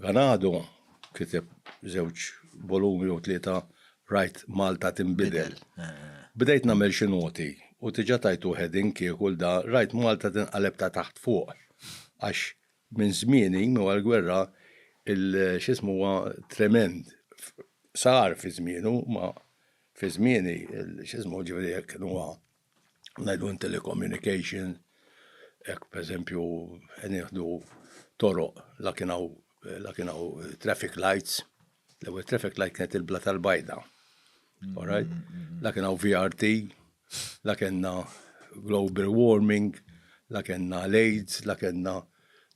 Ganado kiteb żewġ volumi jew tlieta rajt Malta tinbidel. Bdejt nagħmel xi noti u diġà tajtu heading kieku l-da rajt Malta tinqaleb ta' taħt fuq għax minn żmieni, minn wara l-gwerra, il-x'ismu huwa tremend. Sar fi żmienu, imma fi żmieni, x'ismu, ġifieri hekk inhuwa. ngħidu in telecommunication, hekk pereżempju nieħdu toroq la kien hawn la kien hawn traffic lights, l-ewwel traffic light kienet il-bla tal-bajda. All right? La kien hawn VRT, la kellna global warming, la kellna l-AIDS, la kellna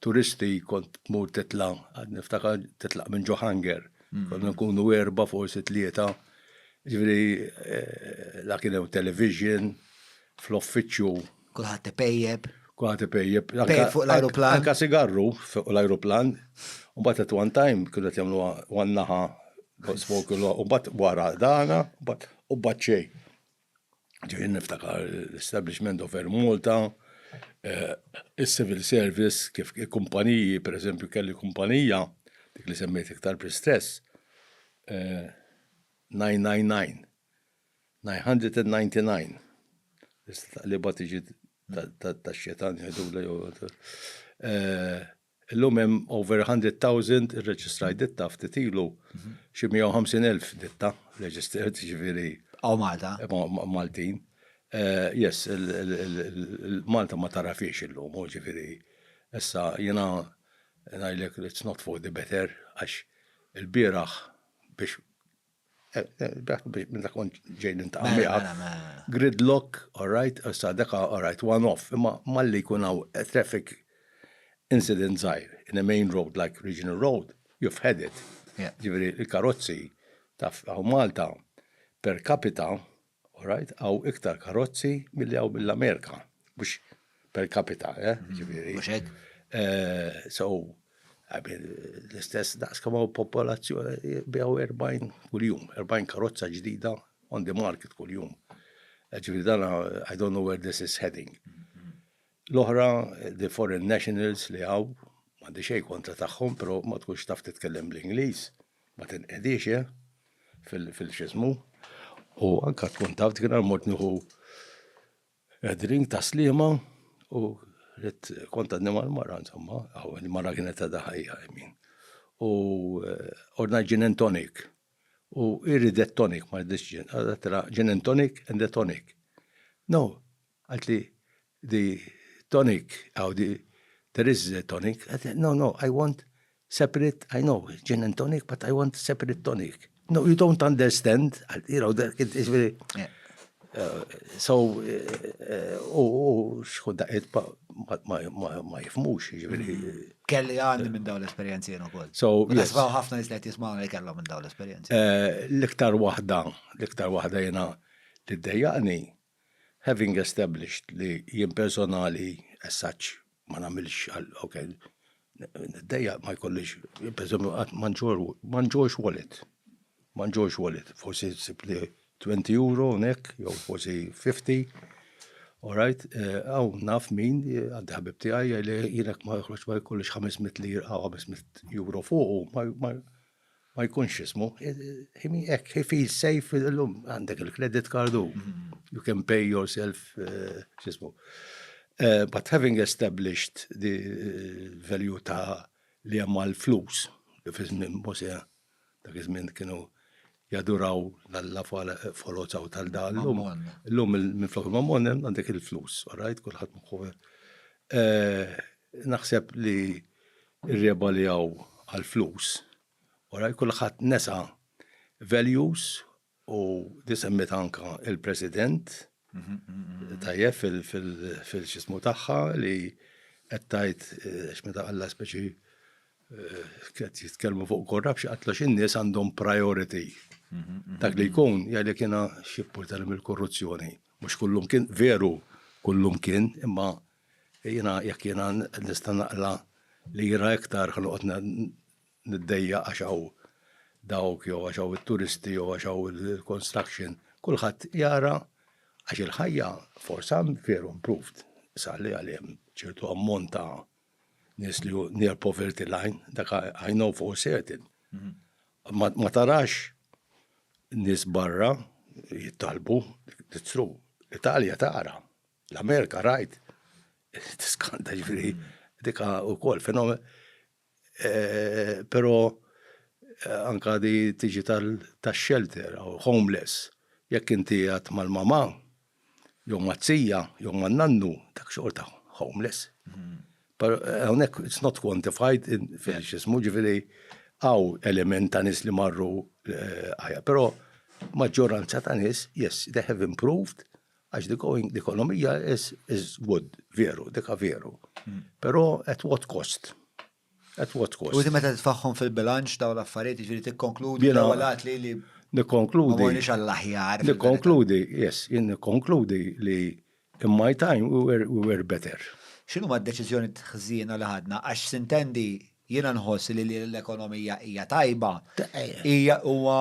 turisti kont tmur titla' niftakar titlaq minn Johanger. Mm. Konna nkunu erba' forsi tlieta. Ġifieri eh, la kien hemm television fl-offiċċju. Kulħadd ipejjeb. Kulħadd ipejjeb. Pejjeb fuq l-ajruplan. Anka sigarru fuq l-ajruplan. Mbagħad at one time kienu qed jagħmlu one naħa smoke u mbagħad wara dana u mbagħad xejn. Ġejjin niftakar l-establishment of Air Malta, eh, il-civil service, kif kumpaniji, per eżempju, kelli kumpanija, dik li semmejt iktar pristess, 999, eh, 999, li bat iġi ta' xetan jgħidu l Illum hemm over hundred thousand irreġistraj ditta ftit ilu xi mija u ħamsin elf ditta registered jiġifieri. Bqgħu Malta. Maltin. Yes, Malta ma tarafhiex illum, u jiġifieri issa jiena ngħidlek it's not for the better għax ilbieraħ biex Minna kont ġej nintaqa' mela, miegħek. Mela, mela. Gridlock, all right, issa deka all right, one off, imma malli jkun hawn traffic incident żgħir in a main road like regional road, you've had it. Jiġifieri l-karozzi taf hawn Malta per capita Alright, hawn iktar karozzi milli hawn mill-Amerika, mhux per capita, eh, ġifieri. Mhux hekk? So, I mean, l-istess daqs kemm hawn popolazzjoni biegħu 40 kuljum, 40 karozza ġdida on the market kuljum. Ġifieri dan I don't know where this is heading. L-oħra, the foreign nationals li hawn, m'għandi xejn kontra tagħhom, però ma tkunx taf titkellem bl-Ingliż. ma tinqedix eh, fil-xismu, u anka tkun taf dik nar mort nieħu edrin ta' slima u rrit kont għadni mal-mara, insomma, għaw, il-mara kienet għadha ħajja, min. U eh, ordna gin and tonic. U irridet tonic, ma rridix gin, għadha tonic and the tonic. No, Għalt li the tonic aw the there is the tonic, għalt li no no I want separate I know gin and tonic but I want separate tonic. No you don't understand għalt you know dak jiġifieri so u xħut daqqiet ma jifhmux jiġifieri. Kelli għandi minn dawn l-esperjenzi jien ukoll. So Nisfaw ħafna nies li qed jismgħuna li kellhom minn dawn l-esperjenzi. L-iktar waħda l-iktar waħda jiena li ddejjaqni Having established li jien personali as such ma nagħmilx għal ok niddejjaq ma jkollix pereżempju qatt ma nġorrx wallet. Ma nġorrx wallet. Forsi ssib li twenty euro hawnhekk jew forsi fifty orajt hawn naf min għandi ħabib tiegħi jgħidli jien jekk ma joħroġx ma jkollix ħames mitt lira jew ħames mitt euro fuqu ma ma jkunx ismu, hekk he feels safe illum għandek il-credit card u mm-hmm. you can pay yourself eh, x'ismu. Eh, but having established the eh, value ta' li hemm l-flus li fi żmien Mose dak iż-żmien kienu jaduraw l-alla folozaw tal-dan. L-lum minn flok mammon għandek il-flus, all right, kullħat mħuħe. Naħseb li Irrebaljaw għal flus. Alright kulħadd nesa values u di semmietha anke il-President tajjeb fil-x'ismu tagħha li qed tgħid għax meta qallha speċi qed jitkellmu fuq corruption qatlu x'in-nies għandhom priority. Dak li jkun jgħidlek jiena x'jimportani mill-korruzzjoni. Mhux kullum kien veru kullum kien imma Jiena jekk jiena nista' naqla lira iktar ħa noqgħod niddejja għax hawn dawk jew għax hawn it-turisti jew għax hawn il-construction, kulħadd jara għax il-ħajja forsa veru improved, sar li għalih hemm ċertu ammont ta' nies li hu near poverty line, dak I know for certain. Ma tarax nies barra jittalbu, it's true, l-Italja tara. L-Amerika rajt tiskanta ġifieri dika wkoll fenomen. Eh, però eh, anka di tiġi tal-shelter u homeless. Jekk inti għat mal-mama, jew mazzija, jew man-nannu, dak xorta homeless. Mm-hmm. Pero eh, hawnhekk it's not quantified in fil-xismu ġifieri għaw element ta' nis li marru eh, għaja, pero maġġoranza ta' nis, yes, they have improved, Għax the going, l-ekonomija is, is good, veru, dika veru. Hmm. Pero at what cost? At what cost? U meta titfaħħom fil-bilanċ daw l-affarijiet, ġiri tikkonkludi l-għalat li li. Nikkonkludi. Ma għall-aħjar. Nikkonkludi, yes, jien nikkonkludi li in my time we were, we were better. Xinu ma d-deċizjoni t-ħżina li ħadna? Għax sintendi Jiena nħoss li li l-ekonomija hija tajba. Hija huwa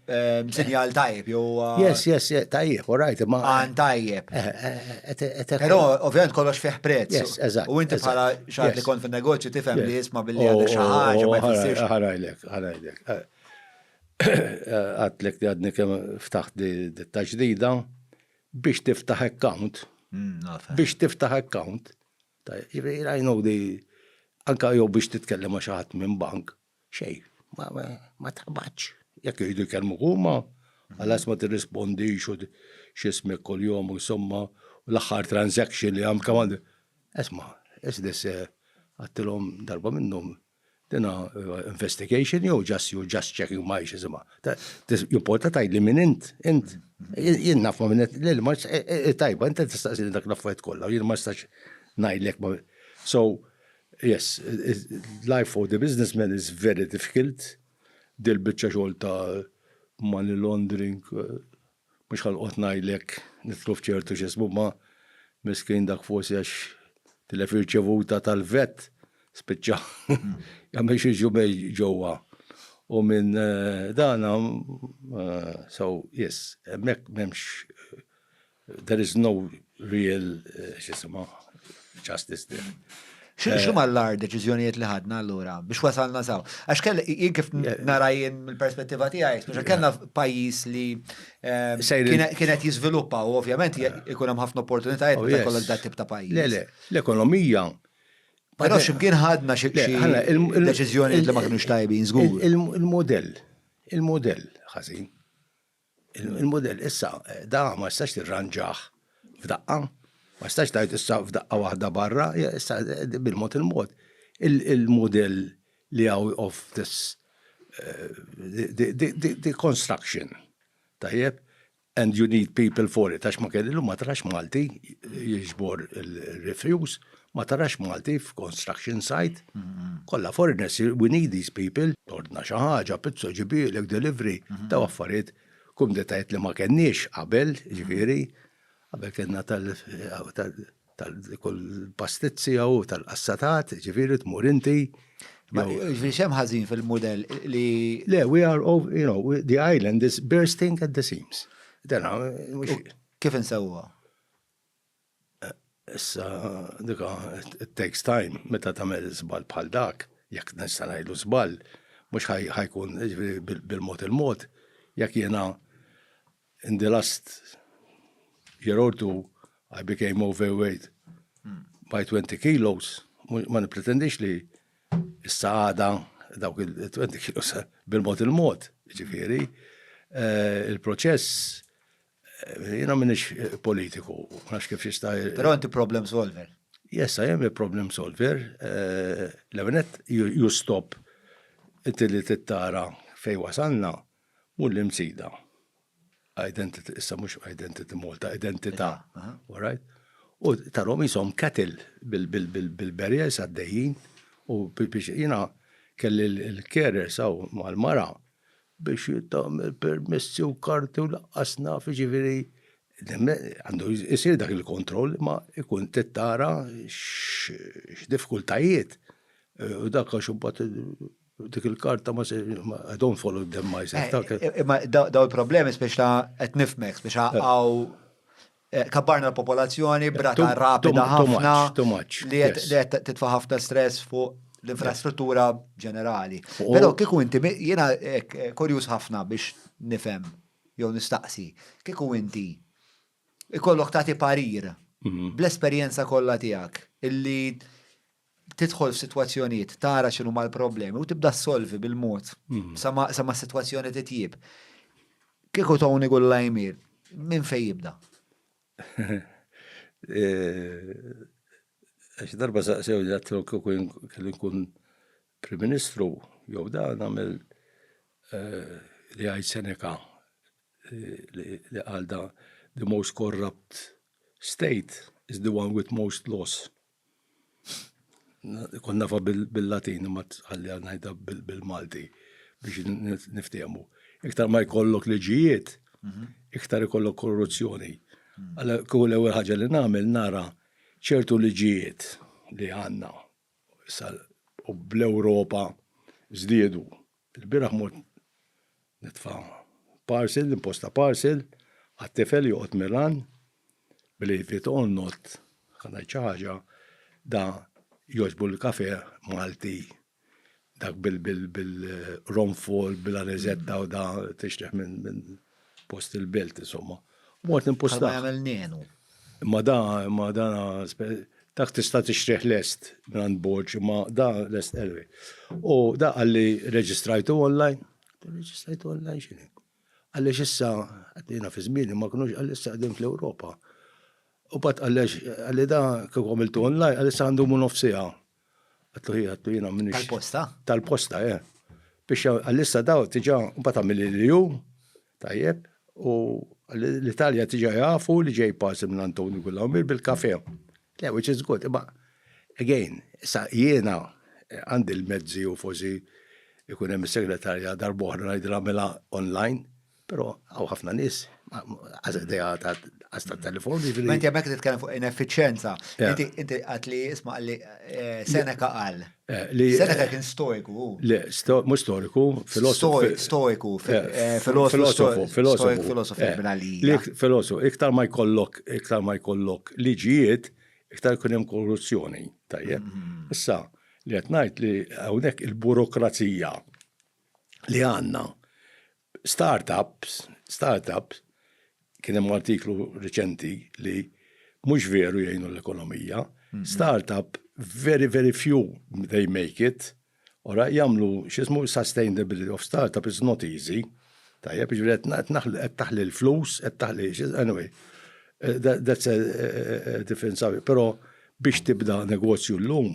ehm, sinjal tajb jew Yes, yes, yes, tajjeb, all right, ma. Għan tajjeb. Eh, eh, eh, Però ovvjament kollox fih prezz. Yes, eżatt. U inti bħala xaħat li kont fin-negozju tifhem li jisma' billi għadha xi ħaġa ma jfissirx. Ħarajlek, ħarajlek. Għatlek li għadni kemm ftaħt di taġdida biex tiftaħ account. Hmm, biex tiftaħ account Jiġifieri I know the anke jew biex titkellem ma' xi ħadd minn bank, xejn, ma taqbadx. Jekk iridu jkellmuk huma, ħalas ma tirrispondix u x'ismek kuljum u insomma u l-aħħar transaction li għamilt kemm għandi. Isma', is this a, għedtilhom darba minnhom, Dina investigation jew just you just checking my xisimha. Jimporta tgħidli min int, int. Jien naf ma minnet li ma tajba int tistaqsini dak l-affarijiet kollha, jien ma nistax ngħidlek ma. So, yes, life of the businessman is very difficult, dil-biċċa xogħol ta' money laundering. Mhux ħanqgħod ngħidlek nidħlu f'ċertu x'ismu ma miskin dak forsi għax tilef ir-riċevuta tal-vet spiċċa jagħmel xi ġumej ġewwa. U minn dana so yes, hemmhekk m'hemmx there is no real x'ismu justice there. Xinu ma l-ar deċizjonijiet li ħadna l-ura biex wasalna saw? Għax kelli jien kif narajin mill-perspettiva tiegħi, biex kellna pajjiż li ehm, kienet jiżviluppa u ovvjament ikun hemm ħafna opportunitajiet meta oh, kollok dat tip ta' pajjiż. Le, le, l-ekonomija Però ximkien ħadna xi deċiżjoni li ma kienux tajbin żgur. Il-modell, il-modell ħażin. Il-mudell issa da ma tistax tirranġah f'daqqa, ma tistax tgħid issa f'daqqa waħda barra, issa bil-mod il-mod il-mudell li out of this the construction, tajjeb, and you need people for it, għax ma kelli llum ma tarax Malti jiġbor il-refuse, Ma tarax Malti f'construction site. Kollha foreigners, we need these people. Tordna xi ħaġa, pizza ġibielek, delivery, daw affarijiet, kumditajiet li ma kenniex qabel, ġifieri, qabel kellna tal-kull pastizzi jew tal-qassatat, ġifieri tmur inti. Ma ġifieri xem ħażin fil-mudell li. Le, we are, you know, the island is bursting at the seams. Kif insewwa? Issa dik it takes time meta tagħmel żball bħal dak, jekk nista' ngħidlu żball, mhux ħajkun jiġifieri bil-mod il-mod, jekk jiena in the last year or two I became overweight by 20 kilos, ma nippretendix li issa għada dawk il-20 kilos bil-mod il-mod, jiġifieri il-proċess Jiena minix politiku, nafx kif jista'. Però inti problem solver. Yes, I am a problem solver. Eh, Levenet, you stop inti li tittara fej wasalna u l-imsida. Identity, issa mux identity Malta, identità. All right? U tarom jisom katil bil-berjes għaddejjin u biex jina kelli l-kerer saw mal-mara biex tagħmel permessi u karti u laqqas naf, jiġifieri għandu jsir dak il-kontroll ma ikun tittara x'difkultajiet u dak għax imbagħad dik il-karta ma se I don't follow them myself. Imma daw il-problemi speċi ta' qed nifhmek, speċi hawn Kabbarna l-popolazzjoni b'rata rapida ħafna li qed titfa' ħafna stress fuq l-infrastruttura ġenerali. Però kieku inti jiena kurjuż ħafna biex nifhem jew nistaqsi, kieku inti ikollok tagħti parir bl-esperjenza kollha tiegħek illi tidħol f'sitwazzjonijiet, tara x'inhuma l-problemi u tibda ssolvi bil-mod hmm. sa ma s-sitwazzjoni titjib. Kieku Tony Gulla jmir, minn fejn jibda? Eh, għax darba saqsew li għatlu kieku kelli nkun Prim Ministru, jew da nagħmel eh, li għajt Seneca eh, li għalda the most corrupt state is the one with most loss. Kont nafa bil-Latin ma tħalli għal ngħidha bil-Malti biex niftehmu. Iktar ma jkollok liġijiet, mhm. iktar ikollok korruzzjoni. Mhm. Għalla kull ewwel ħaġa li nagħmel nara ċertu liġijiet li għandna u bl-Ewropa żdiedu Il-bieraħ mort nitfa' parcel, imposta parcel, għat-tifel joqgħod Milan, believe it or not, ħa ngħid xi ħaġa, da jogħġbu l-kafe Malti, dak bil-ronfol, bil-aniżetta u da tixtieq minn. Post il-belt, insomma. Mort nimpusta. Ma jagħmel nenu. Ma da, ma da, dak tista' tixtrih lest minn Borġ, ma da lest elwi. U da għalli reġistrajtu online, reġistrajtu online xini. Għalli xissa, għaddina fi zmini, ma kunux għalli issa għaddim fl-Europa. U bat għalli għalli da kif għamiltu online, għalli issa għandu mun nofsija. Għattu hi, għattu jina minix. Tal-posta? Tal-posta, eh. Biex għallissa daw tiġa mbata mill-liju, tajjeb, u l-Italja tiġa jafu li ġej pasim minn Antoni Gullawmir bil-kafe. Le, which is good, imma, again, sa jiena eh, għandi l-mezzi u fozi ikun hemm segretarja darbohra ngħidilha mela online, Però hawn ħafna nies għaż idea ta' għaż ta' telefon. Jiġifieri ma inti hemmhekk titkellem fuq ineffiċjenza. Inti inti qatt li isma' li eh, Seneca qal. Eh, Seneca kien stoiku hu. Le, mhux storiku, filosofu. Stoiku, filosofu, filosofu. Filosofu, filosofu, iktar ma jkollok, iktar ma jkollok liġijiet, iktar kun hemm korruzzjoni, tajjeb. Mm-hmm. Issa, li qed ngħid li hawnhekk il-burokrazija li għandna Startups, startups, kien hemm artiklu riċenti li mhux veru jgħinu l-ekonomija, startup very very few they make it, ora jagħmlu x'ismu sustainability of startup is not easy, tajjeb, jiġifieri qed taħli l-flus, qed taħli anyway, that's a different subject, però biex tibda negozju llum